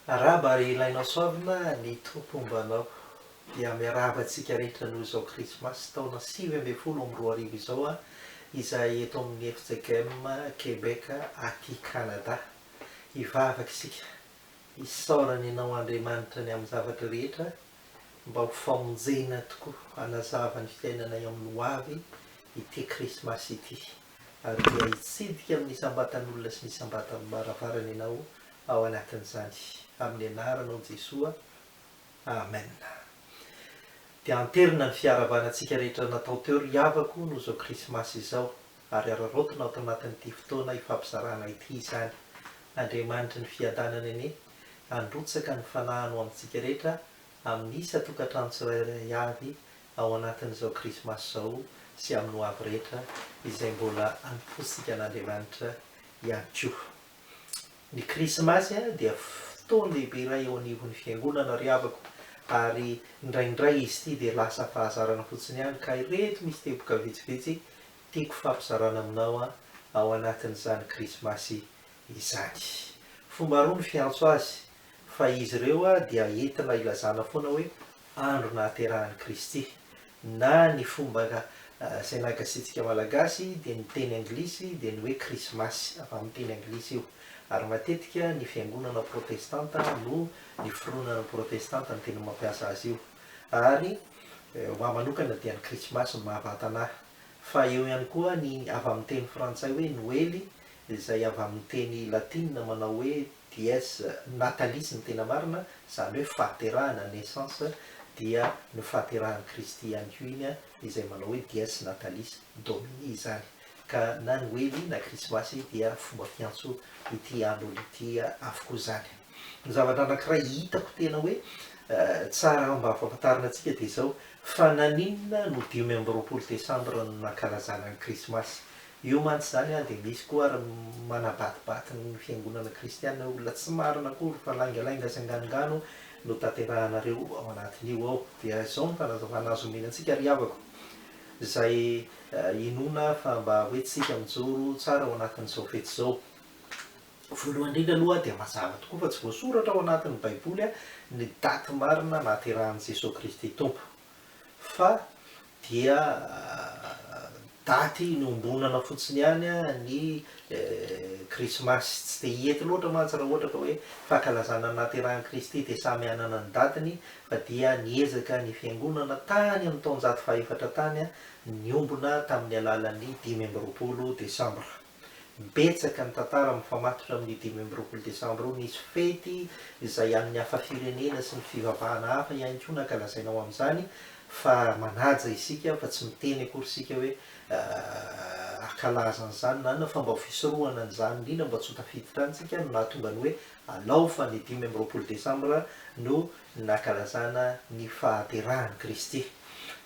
Arahaba ry Ilainao Soavina ny Tompo homba anao. Dia miarahaba antsika rehetra noho izao Krismasy taona sivy ambin'ny folo amby roa arivo izao aho izay eto amin'ny fjkm Québec aty Canada. Hivavaka isika, hisaora ny anao Andriamanitra ny amin'ny zavatra rehetra mba ho famonjena tokoa hanazava ny fiainanay amin'ny hoavy ity Krismasy ity. ary dia hitsidika amin'ny isam-batan'olona sy ny isam-batan'ny baravarana ianao ao anatin'izany, amin'ny anaranao Jesoa, Amen. Dia anterina ny fiaravanantsika rehetra natao teo ry havako noho izao krismasy izao, ary araraotina ato anatin'ity fotoana ifampizarana ity izany. Andriamanitry ny fiadanana anie handrotsaka ny fanahiny ho amintsika rehetra amin'ny isan-tokantrano tsirairay avy ao anatin'izao Krismasy izao sy amin'ny ho avy rehetra izay mbola anompoantsika an'Andriamanitra ihany koa. Ny Krismasy dia fotoana lehibe iray eo anivon'ny Fiangonana ry havako ary indraindray izy ity dia lasa fahazarana fotsiny ihany ka ireto misy teboka vitsivitsy tiako fampizarana aminao ao anatin'izany Krismasy izany. Fomba roa ny fiantso azy Fa izy ireo dia entina hilazana foana hoe andro nahaterahan'i Kristy. Na ny fomba izay nagasiantsika Malagasy dia ny teny anglisy dia ny hoe Krismasy, avy amin'ny teny anglisy io. Ary matetika ny fiangonana protestanta no ny fironana protestanta no tena mampiasa azy io. Ary ho ahy manokana dia ny Krismasy no mahavantana ahy. Fa eo ihany koa ny avy amin'ny teny frantsay hoe Noely izay avy amin'ny teny latinina manao hoe DS, Natalisy ny tena marina, izany hoe fahaterahana, naissance, dia ny fahaterahan'i Kristy ihany koa iny izay manao hoe Dies Natalis Domini izany. Ka na Noely na Krismasy dia fomba fiantso ity andro ity avokoa izany. Ny zavatra anankiray hitako tena hoe tsara mba ampahafantarina antsika dia izao, fa naninona no dimy amby roapolo desambra no nankalazana ny Krismasy? Eo mantsy izany dia misy koa ary manabatibaty ny fiangonana kristiana hoe olona tsy marina akory fa laingalainga sy anganongano no tanterahanareo ao anatin'io ao. Dia izao ny fanazavana azo omena antsika ry havako izay inoana fa mba hoentintsika mijoro tsara ao anatin'izao fety izao. Voalohany indrindra aloha dia mazava tokoa fa tsy voasoratra ao anatin'ny baiboly ny daty marina nahaterahan'i Jesoa Kristy Tompo. fa dia daty inombonana fotsiny ihany ny krismasy, tsy dia hety loatra mantsy raha ohatra ka hoe fankalazana ny nahaterahan'i Kristy dia samy hanana ny datiny fa dia niezaka ny fiangonana tany amin'ny taonjato fahaefatra tany niombona tamin'ny alalan'ny dimy amby roapolo desambra. Betsaka ny tantara mifamatotra amin'ny dimy amby roapolo desambra io. Nisy fety izay an'ny hafa firenena sy ny fivavahana hafa ihany koa nankalazaina ao amin'izany fa manaja isika fa tsy miteny akory isika hoe akalaza an'izany na inona fa mba ho fisorohana an'izany indrindra mba tsy ho tafiditra any isika no nahatonga ny hoe alao fa ny dimy amby roapolo desambra no nankalazana ny fahaterahan'i Kristy.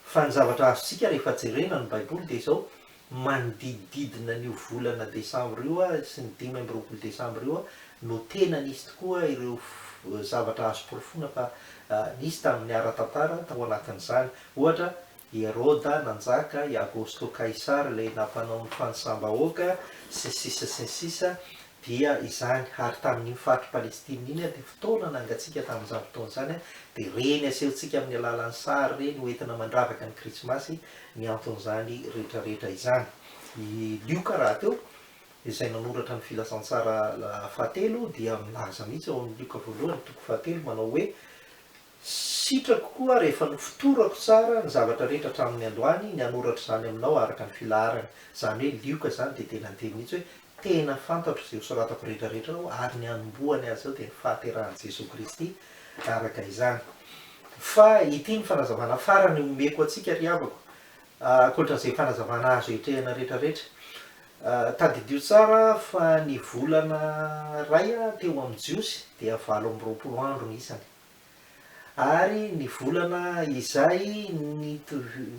Fa ny zavatra azontsika rehefa jerena ny Baiboly dia izao, Manodidididina an'io volana desambra io sy ny dimy amby roapolo desambra io no tena nisy tokoa ireo zavatra azo porofoina fa nisy tamin'ny ara-tantara tao anatin'izany. Ohatra, i Heroda nanjaka, i Agosto Kaisara ilay nampanao ny fanisam-bahoaka, sy ny sisa sy ny sisa Dia izany, ary tamin'iny faritry Palestina iny, dia fotoana nangatsiaka tamin'izany fotoana izany, dia ireny asehontsika amin'ny alalan'ny sary ireny ho entina mandravaka ny Krismasy ny anton'izany rehetrarehetra izany. I Lioka rahateo, izay nanoratra ny Filazantsara fahatelo, dia milaza mihitsy ao amin'ny Lioka voalohany, toko fahatelo, manao hoe, Sitrako koa rehefa nofotorako tsara ny zavatra rehetra hatramin'ny androany ny hanoratra izany aminao araka ny filaharany. Izany hoe lioka izany dia tena niteny mihitsy hoe, Tena fantatro izay hosoratako rehetrarehetra ao ary ny hanombohany azy ao dia ny fahaterahan'i Jesoa Kristy araka izany. Fa ity ny fanazavana farany omeko antsika ry havako, ankoatran'izay fanazavana azo etrehina rehetrarehetra. Tadidio tsara fa ny volana iray teo amin'ny Jiosy dia valo amby roapolo andro ny isany. ary ny volana izay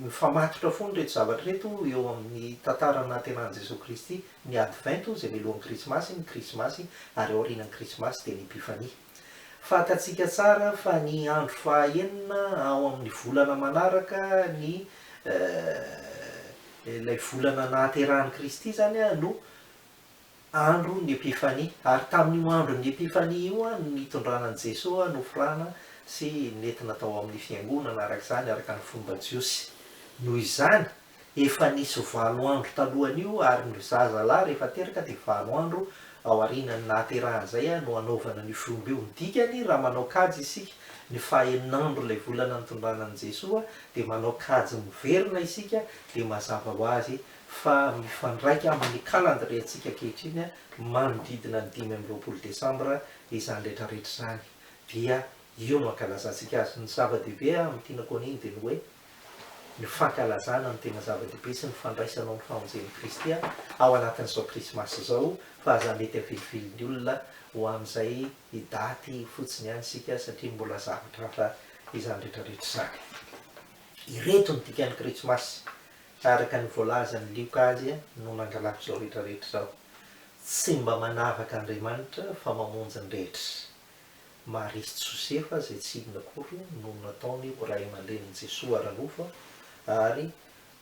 mifamatotra foana ireto zavatra ireto eo amin'ny tantara nahatenan'i Jesoa Kristy, ny Advento izay mialohan'ny Krismasy, ny Krismasy ary aorianan'ny Krismasy dia ny Epifania. Fantatsika tsara fa ny andro fahaenina ao amin'ny volana manaraka ny ilay volana nahaterahan'i Kristy izany no andron' ny Epifania, ary tamin' io andron' ny Epifania io no nitondrana an' i Jesoa nofrana sy nentina tao amin' ny Fiangonana araka izany araka ny fomba jiosy. Noho izany, efa nisy valo andro talohan' io ary ny zaza lahy rehefa teraka dia valo andro aorianan' ny nahaterahan' izay no hanaovana an' io fiombr' io. Ny dikany, raha manao kajy isika ny fahaenin' andro ilay volana nitondrana an' i Jesoa dia manao kajy miverina isika dia mazava ho azy fa mifandraika amin' ny kalandrientsika ankehitriny manodidina ny dimy amby roapolo desambra izany rehetrarehetra izany, dia io no ankalazantsika azy. Ny zava-dehibe amin' ity nakon' iny dia ny hoe ny fankalazana no tena zava-dehibe sy ny fandraisana ao ny famonjen' i Kristy ao anatin' izao Krismasy izao, fa aza mety avilivily ny olona ho amin' izay daty fotsiny ihany isika satria mbola zavatra hafa izany rehetrarehetra izany. Ireto ny dikan' ny Krismasy, Ka araka ny voalazan'i Lioka azy no nangalako izao rehetra rehetra izao. Tsy mba manavaka Andriamanitra fa mamonjy ny rehetra. Maria sy Josefa izay tsy inona akory no nataony ho ray aman-drenin'i Jesoa ara-nofo ary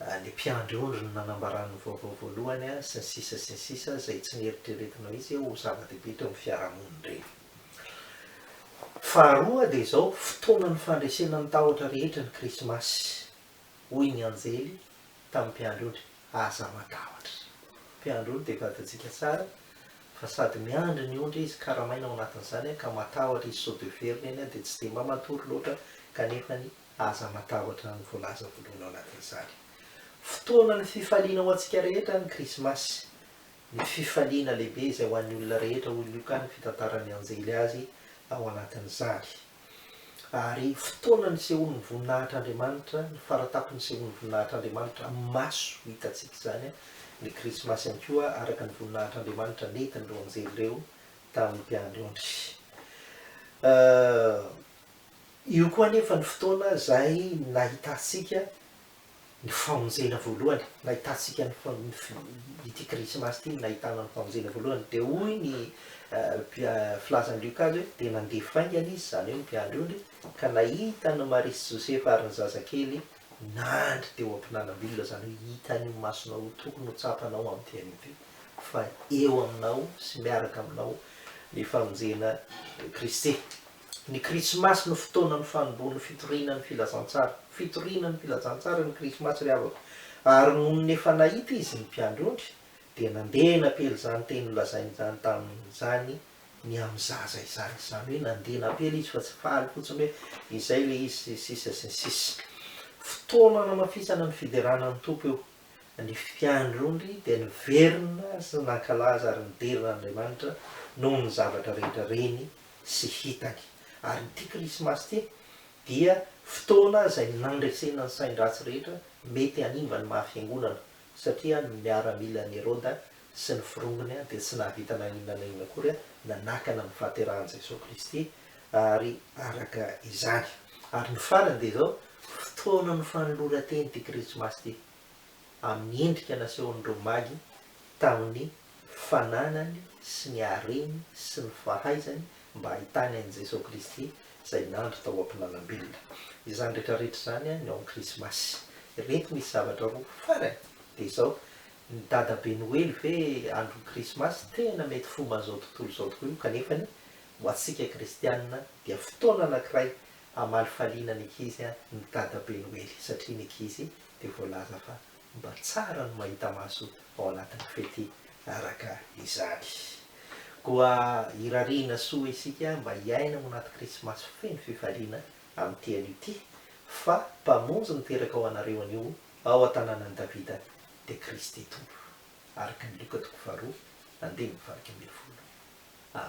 ny mpiandry ondry no nanambarany ny vaovao voalohany sy ny sisa sy ny sisa izay tsy neritreretinao izy ho zava-dehibe teo amin'ny fiarahamonin-dreny. Faharoa dia izao, fotoanan'ny fandresena ny tahotra rehetra ny krismasy. hoy ny anjely tamin'ny mpiandry ondry, Aza matahotra. Mpiandry ondry dia vadintsika tsara, fa sady miandry ny ondry izy, karamaina ao anatin'izany aho, ka matahotra izy sao dia very ny ainy aho, dia tsy dia mba matory loatra, kanefa ny Aza matahotra no voalaza voalohany ao anatin'izany. Fotoanan'ny fifaliana ho antsika rehetra ny Krismasy, ny fifaliana lehibe izay ho an'ny olona rehetra, hoy Lioka ny fitantaran'ny anjely azy ao anatin'izany. Ary fotoana nisehoan'ny voninahitr'Andriamanitra, ny faratapony nisehoan'ny voninahitr'Andriamanitra, amin'ny maso hitantsika izany ny Krismasy ihany koa, araka ny voninahitr'Andriamanitra nentin'ireo anjely ireo tamin'ny mpiandry ondry. Io koa anefa ny fotoana izay nahitantsika ny famonjena voalohany, nahitantsika ny ny ity krismasy ity no nahitana ny famonjena voalohany, dia hoy ny filazan'i Luka azy hoe, dia nandeha faingana izy, izany hoe ny mpiandry ondry, ka nahita an'i Maria sy Josefa ary ny zazakely nandry teo am-pinanam-bilona, izany hoe hitan'ny masonao ho tokony ho tsapanao amin'ity anio ity fa eo aminao sy miaraka aminao ny famonjena Kristy. Ny Krismasy no fotoanan'ny fanombohan'ny fitoriana ny Filazantsara. Fitoriana ny Filazantsara ny Krismasy ry havako. Ary nony efa nahita izy ny mpiandry ondry dia nandeha napely izany teny nolazainy izany tamin'izany ny amin'ny zaza izany. Izany hoe nandeha napely izy fa tsy faly fotsiny hoe izay ilay izy sy ny sisa sy ny sisa. Fotoana nanamafisana ny fiderana ny Tompo io. Ny mpiandry ondry dia niverina sy nankalaza ary nidera an'Andriamanitra noho ny zavatra rehetra reny sy hitany. Ary ity Krismasy ity dia fotoana izay nandresena ny sain-dratsy rehetra mety hanimba ny maha fiangonana, satria ny miaramilan'i Heroda sy ny firongony dia tsy nahavita na inona na inona akory nanakana ny fahaterahan'i Jesoa Kristy ary araka izany. Ary ny farany dia izao, fotoanan'ny fanoloran-teny ity Krismasy ity, amin'ny endrika nasehon'ireo magy tamin'ny fananany sy ny hareny sy ny fahaizany mba hahitany an'i Jesoa Kristy izay nandry tao am-pinanam-belona. Izany rehetra rehetra izany ny ao amin'ny Krismasy. Ireto misy zavatra roa farany dia izao, ny dadabe noely ve andron'ny Krismasy tena mety fomba an'izao tontolo izao tokoa io kanefany ho antsika kristianina dia fotoana anankiray hamalifaliana ny ankizy ny dadabe noely satria ny ankizy dia voalaza fa Mba tsara ny mahita maso ao anatin'ny fety araka izany. Koa irariana soa isika mba hiaina ao anaty Krismasy feno fifaliana amin'ity anio ity, fa Mpamonjy niteraka ho anareo anio ao an-tanànan'i Davida dia Kristy Tompo. Araka ny Loka toko faharoa, andininy fahairaika ambin'ny folo. Amen.